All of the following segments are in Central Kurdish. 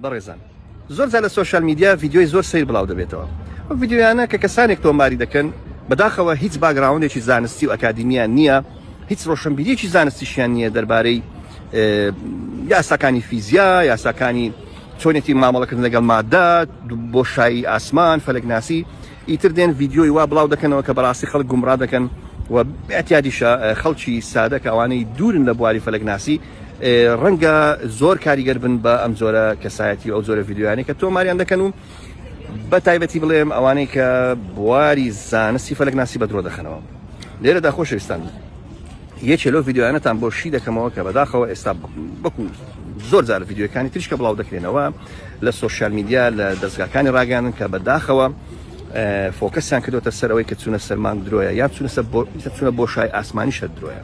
بەڕێزان زۆر جار لە سۆشیال میدیا ڤیدیۆی زۆر سەیر بڵاو دەبێتەوە ئەو ڤیدیۆیانە کە کەسانێک تۆماری دەکەن بەداخەوە هیچ باگراوندێکی زانستی و ئەکادیمیان نییە هیچ ڕۆشنبیریەکی زانستیشیان نییە دەربارەی یاساکانی فیزیا یاساکانی چۆنێتی مامەڵەکردن لەگەڵ مادە بۆشایی ئاسمان فەلەکناسی ئیتر دێن ڤیددیۆی وا بڵاو دەکەنەوە کە بەڕاستی خەڵک گومڕا دەکەن و ئەتیادیشە خەڵکی سادە کە ئەوانەی دوورن لە بواری فەلەکناسی ڕەنگە زۆر کاریگەر بن بە ئەم جۆرە کەسایەتی و ئەو جۆرە ڤیددیویانە کە تۆماریان دەکەن و بە تایبەتی بڵێم ئەوانەی کە بواری زانستی فەلک ناسی بە درۆ دەخەنەوە لێرەدا خۆشەویستان یەکێ لەو ڤیددیوانەتان بۆ شی دەکەمەوە کە بەداخەوە ئێستا بکو زۆر جار ڤیددیوەکانی تریشکە بڵاو دەکرێنەوە لە سوۆسیال میدیا لە دەستگاکانی ڕاگەیانن کە بەداخەوە فۆکەسیان کردوتە سەرەوەی کە چونە سەرمان درۆیە یا چونەسە چونە بۆ شای ئاسمانی شەر درۆیە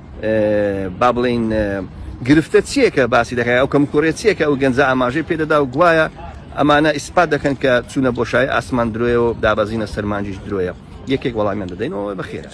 با بڵێین گرفتە چییە کە باسی دەکات، ئەو کەموکوڕییە چییە کە ئەو گەنجە ئاماژەی پێ دەدا و گوایە ئەمانە ئیسپات دەکەن کە چوونە بۆشایی ئاسمان درۆیە و دابەزینە سەر مانگیش درۆیە؟ یەکێک وەڵامیان دەدەینەوە بە خێرایی.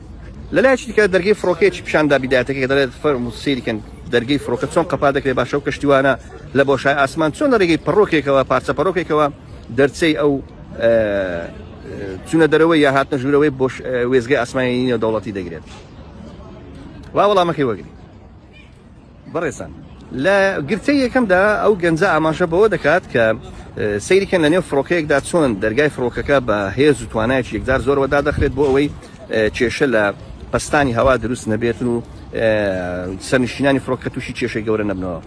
لە لایەکی دیکە دەرگەی فڕۆکەیەکی پیشان دا بیدایەتەکەی کە دەڵێت فەرموو سەیری کەن دەرگەی فڕۆکە چۆن قەپات دەکرێت باشە ئەو کەشتیوانە لە بۆشای ئاسمان چۆن لە ڕێگەی پەڕۆکێکەوە پارچە پەڕۆکێکەوە دەرچەی ئەو چونە دەرەوەی یا هاتنە ژوورەوەی بۆش وێزگەی ئاسمانی نێودەوڵەتی دەگرێت وا وەڵامەکەی وەگری بەڕێزتان لە گرتەی یەکەمدا ئەو گەنجە ئاماژە بەوە دەکات کە سەیری کەن لە نێو فڕۆکەیەکدا چۆن دەرگای فڕۆکەکە بە هێز و توانایەکی یەکجار زۆرەوە دادەخرێت بۆ ئەوەی کێشە لە پستانی هەوا دروست نەبێتن و سەرنشینانی فڕۆکە تووشی کێشەی گەورە نەبنەوە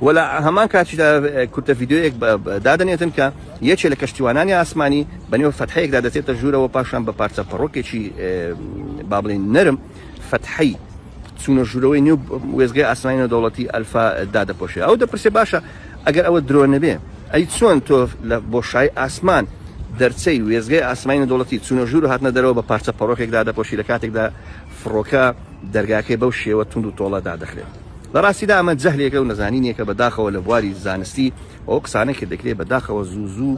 وەلا هەمان کاتیدا کورتە یددیوەیەک دادنێتن کە یەکێ لە کەشتیوانانی ئاسمانی بەنێو فەتحەیەکدا دەچێتە ژوورەوە پاشان بە پارچە پەڕۆکێکی بابلین نەرم فەتحی چوونە ژوورەوەی نێو وێستگەی ئاسمانی نێودەوڵەتی ئەلفا دادەپۆشێ ئەو دەپرسێ باشە ئەگەر ئەوە درۆ نەبێ ئەی چۆن تۆ لە بۆشای ئاسمان دەرچەی وێزگەی ئاسمانی نەدەوڵەتی چوونە ژوور و هاتنە دەرەوە بە پارچە پەڕۆکێکدا دەپۆشی لە کاتێکدا فڕۆکە دەرگاکەی بەو شێوە تونند و تۆڵە دادەخرێت لە ڕاستیدا ئەمە جەهلێکە و نەزانینێکە بەداخەوە لە بواری زانستی ئەو قسانێک کە دەکرێت بەداخەوە زوو زوو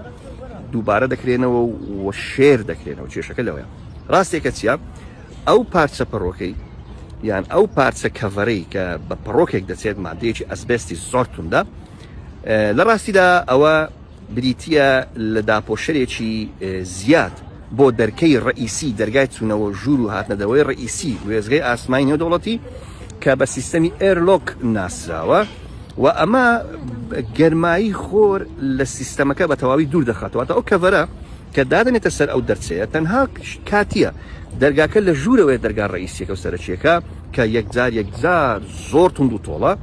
دووبارە دەکرێنەوە و شێر دەکرێنەوە کێشەکە لەوەیە ڕاستێکە چیە ئەو پارچە پەڕۆکەی یان ئەو پارچە کەڤەرەی کە بە پەڕۆکێک دەچێت مادەیەکی ئەسبستی زۆر توندە لە ڕاستیدا ئەوە بریتە لە داپۆشەرێکی زیاد بۆ دەرکەی ڕئیسی دەرگای چوونەوە ژوور و هاتنەدەوەی ڕئیسی وێزگەی ئاسمانی نێو دەوڵەتی کە بە سیستەمی ئێرلۆک ناسراوە و ئەمە گەرمایی خۆر لە سیستەمەکە بە تەواوی دوور دەخاتەوە تا ئەو کەڤەرە کە دادەنێتە سەر ئەو دەرچەیە تەنها کاتییە، دەرگاکە لە ژوورەوەیە دەرگا ڕەئیسییەکە و سەرەکییەکە کە یەکجار یەکجار زۆر توند و تۆڵە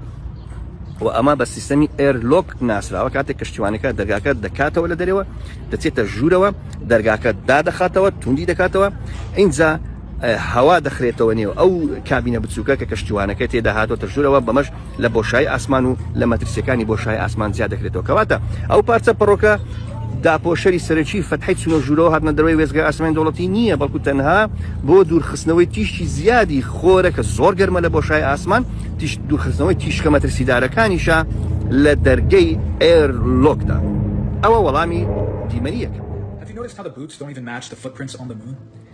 و ئەمە بە سیستەمی ئێر لۆک ناسراوە کاتێک کەشتیوانەکە دەرگاکە دەکاتەوە لە دەرەوە دەچێتە ژوورەوە دەرگاکە دادەخاتەوە توندی دەکاتەوە ئینجا هەوا دەخرێتەوە نێو ئەو کابینە بچووکە کە کەشتیوانەکە تێدا هاتۆتە ژوورەوە، بەمەش لە بۆشایی ئاسمان و لە مەترسییەکانی بۆشای ئاسمان جیا دەکرێتەوە. کەواتە ئەو پارچە پەڕۆکە داپۆشەری سەرەکیی فەتحەی چوونە ژوورەوە هاتنە دەرەوەی وێستگەی ئاسمانی دەوڵەتی نییە، بەڵکو تەنها بۆ دوورخستنەوەی تیشکی زیادی خۆرە کە زۆر گەرمە لە بۆشای ئاسمان، دوورخستنەوەی تیشکە مەترسیدارەکانیشە لە دەرگەی ئێر لۆکدا. ئەوە وەڵامی دیمەنی یەکەم.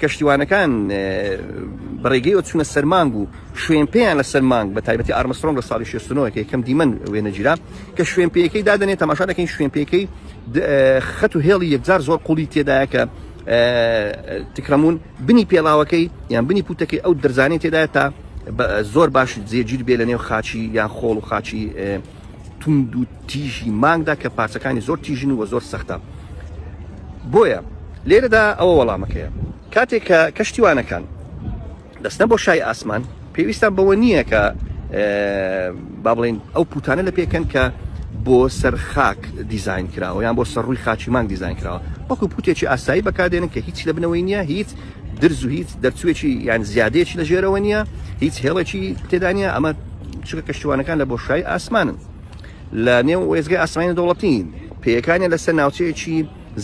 کەشتیوانەکان بە ڕێگەیەوە چوونە سەر مانگ و شوێن پێیان لە سەر مانگ بە تایبەتی ئارمسترۆنگ لە ساڵی 69 کە یەکەم دیمەن وێنەگیرا کە شوێن پێیەکەی دادەنێت تەماشا دەکەین شوێن پێیەکەی خەت و هێڵی یەکجار زۆر قوڵی تێدایە کە تکرەمون بنی پێڵاوەکەی یان بنی پوتەکەی ئەو درزانێت تێدایە تا زۆر باش جێگیر بێ لە نێو خاچی یان خۆڵ و خاچی توند و تیژی مانگدا کە پارچەکانی زۆر تیژن و زۆر سەختە بۆیە لێرەدا ئەوە وەڵامەکەیە کاتێک کە کەشتیوانەکان دەستە بۆ شای ئاسمان پێویستان بەوە نییە کە با بڵین ئەو پوتانە لە پێکەن کە بۆ سەر خاک دیزین کراوە یان بۆ سەر ڕووی خاچی مانگ دیزین کراوە وەکو پوتێکی ئاسایی بەکاردێنن کە هیچ لە بنەوەی نییە هیچ درز و هیچ دەرچوێکی یان زیادەیەکی لە ژێرەوە نییە هیچ هێڵێکی تێدانە ئەمە چکە کەشتوانەکان لە بۆشای ئاسمانن لە نێو وێزگەی ئاسمانی دەوڵەتین پێیەکانی لەسەر ناوچەیەکی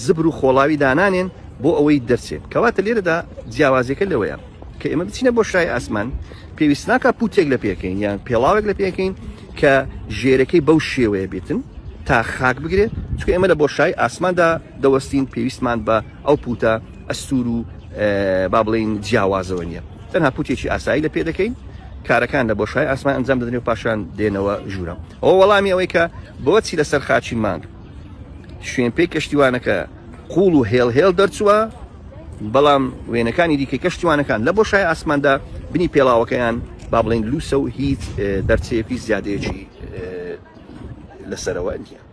زبر و خۆڵاوی دانانێن بۆ ئەوەی دەرچێت کەواتە لێرەدا جیاوازەکە لەوەیە کە ئێمە بچینە بۆ شای ئاسمان پێویست ناکە پوتێک لە پێکەین یان پێڵاوێک لە پێکەین کە ژێرەکەی بەو شێوەیە بێتن تا خاک بگرێت چکە ئێمە لە بۆ شای ئاسماندا دەوەستین پێویستمان بە ئەو پووتە ئەستوور و با بڵێین جیاوازەوە نییە، تەنها پووتێکی ئاسایی لە پێ دەکەین، کارەکان لە بۆشای ئاسمان ئەنجام دەدرێن و پاشان دێنەوە ژوورەوە. ئەوە وەڵامی ئەوەی کە بۆچی لەسەر خاچی مانگ شوێنپێی کەشتیوانەکە قووڵ و هێڵ هێڵ دەرچووە، بەڵام وێنەکانی دیکەی کەشتیوانەکان لە بۆشای ئاسماندا بنی پێڵاوەکەیان با بڵێین لووسە و هیچ دەرچەیەکی زیادەیەکی لەسەرەوە نییە.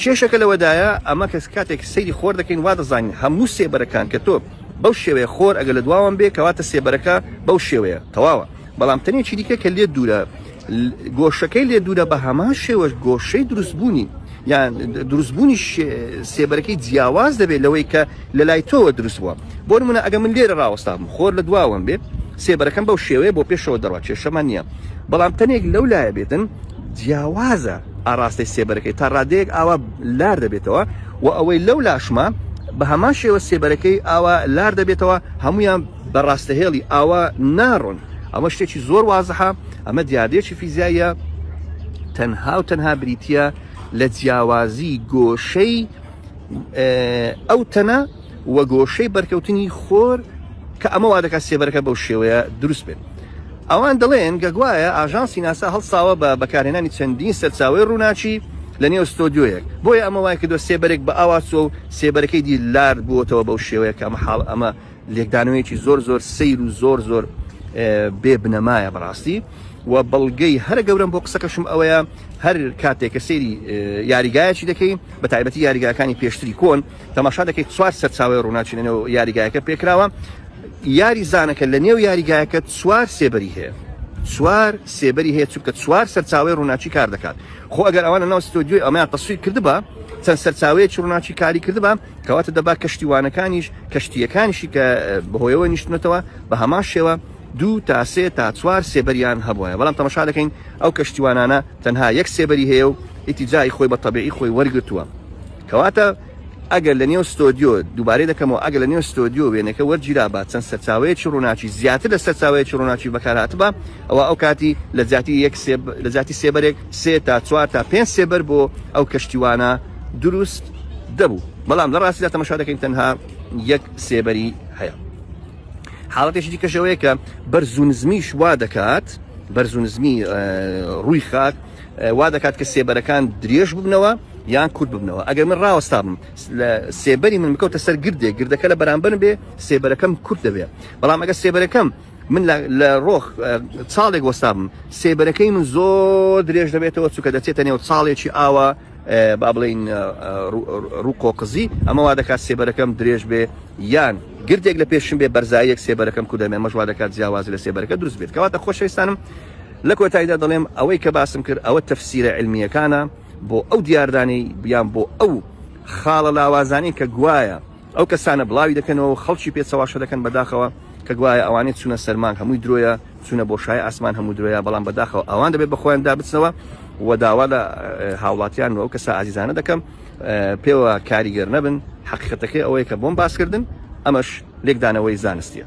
کێشەکە لەوەدایە ئەمە کە کاتێک سەیری خۆر دەکەین وا دەزانین هەموو سێبەرەکان کە تۆ بەو شێوەیە خۆر ئەگەر لە دواوەم بێ کەواتە سێبەرەکە بەو شێوەیە تەواوە بەڵام تەنێکی دیکە کە لێت دوورە گۆشەکەی لێ دوورە بە هەمان شێوەش گۆشەی دروستبوونی یان دروستبوونی سێبەرەکەی جیاواز دەبێت لەوەی کە لە لای تۆوە دروست بووە بۆ منە ئەگە من لێرە ڕاوەستام خۆر لە دواوەم بێ سێبەرەکەم بەو شێوەیە بۆ پێشەوە دەڕوات کێشەمان نییە بەڵام تەنێک لەو لایە بێتن جیاوازە ئاڕاستەی سێبەرەکەی تا ڕادەیەک ئاوا لار دەبێتەوە وە ئەوەی لەو لاشمە بەهەمان شێوە سێبەرەکەی ئاوا لار دەبێتەوە هەموویان بە ڕاستەهێڵی ئاوا ناڕۆن ئەمە شتێکی زۆر وازحە ئەمە دیاردەیەکی فیزیاییە تەنها و تەنها بریتە لە جیاوازی گۆشەی ئەو تەنە و گۆشەی بەرکەوتنی خۆر کە ئەمە وادەکات سێبەرەکە بەو شێوەیە دروست بێت. ئەوان دەڵێن کە گوایە ئاژانسی ناسا هەڵساوە بە بەکارهێنانی چەندین سەرچاوەی ڕووناکی لە نێو ستۆدیۆیەک بۆیە ئەمە وای کردوە سێبەرێک بە ئاوا چوە و سێبەرەکەی دی لارد بوەتەوە بەو شێوەیە کە ئەمە حاڵ ئەمە لێکدانەوەیەکی زۆر زۆر سەیر و زۆر زۆر بێ بنەمایە بەڕاستی و بەڵگەی هەرە گەورەم بۆ قسەکەشم ئەوەیە هەر کاتێک کە سەیری یاریگایەکی دەکەین بە تایبەتی یاریگاکانی پێشتری کۆن تەماشا دەکەیت چوار سەرچاوەی ڕووناکی لە نێو یاریگایەکە پێکراوە یاری زانەکە لە نێو یاریگایەکە چوار سێبەری هەیە سوار سێبەری هەیە چونکە چوار سەرچاوی ڕووناچی کار دەکات خۆ ئەگەر ئەوانە ناو ستۆدیۆی ئەمیان تەسویر کردبا چەند سەرچاوەیە چڕناچی کاری کردبا کەواتە دەبا کەشتیوانەکانیش کەشتیەکانیشی کە بەهۆیەوە نیشتنەتەوە بە هەمان شێوە دوو تا سێ تا چوار سێبەریان هەبووە بەڵام تەمەشا دەکەین ئەو کەشتیوانانە تەنها یەک سێبەری هەیە و ئیتیجای خۆی بە تەبیعی خۆی وەرگتووە کەواتە ئەگەر لە نێو ستۆدیۆ، دووبارەی دەکەمەوە، ئەگەر لە نێو ستۆدیۆ وێنەکە وەرگیرابا چەند سەرچاوەیەکی ڕووناکی زیاتر لە سەرچاوەیەکی ڕووناکی بەکار هاتبا، ئەوا ئەو کاتی لە جیاتی یەک سێ لە جیاتی سێبەرێک سێ تا چوار تا پێنج سێبەر بۆ ئەو کەشتیوانە دروست دەبوو. بەڵام لە ڕاستیدا تەمەشا دەکەین تەنها یەک سێبەری هەیە. حاڵەتێکی دیکەش ئەوەیە کە بەرز و نزمیش وا دەکات بەرز و نزمی ڕووی خاک وا دەکات کە سێبەرەکان درێژ ببنەوە، یان کورت ببنەوە ئەگەر من ڕاوەستابم لە سێبەری من بکەوتە سەر گردێک گردەکە لە بەرامبەر بێ سێبەرەکەم کورت دەبێ بەڵام ئەگە سێبەرەکەم من لە ڕۆخ چاڵێک وەستابم سێبەرەکەی من زۆر درێژ دەبێتەوە چووکە دەچێتە نێو چاڵێکی ئاوە با بڵین ڕووقۆ قزی ئەمە وا دەکات سێبەرەکەم درێژ بێ یان گردێک لە پێشم بێ بەرزایەک سێبەرەکەم کودەمێ مەژوا دەکات جیاواز لە سێبەرەکە دروست بێت کەواتە خۆشەویستانم لە کۆتاییدا دەڵێم ئەوەی کە باسم کرد ئەوە تەفسیرە علمیەکانە بۆ ئەو دیاردانەی یان بۆ ئەو خاڵە لاوازانەی کە گوایە ئەو کەسانە بڵاوی دەکەنەوە و خەڵکی پێ چەواشە دەکەن بەداخەوە کە گوایە ئەوانەی چوونە سەر مانگ هەمووی درۆیە چوونە بۆ شای ئاسمان هەموو درۆیە بەڵام بەداخەوە ئەوان دەبێت بە خۆیان دا بچنەوە و داوا لە هاوڵاتیان و ئەو کەسە ئازیزانە دەکەم پێوە کاریگەر نەبن حەقیقەتەکەی ئەوەیە کە بۆم باسکردن ئەمەش لێکدانەوەی زانستیە.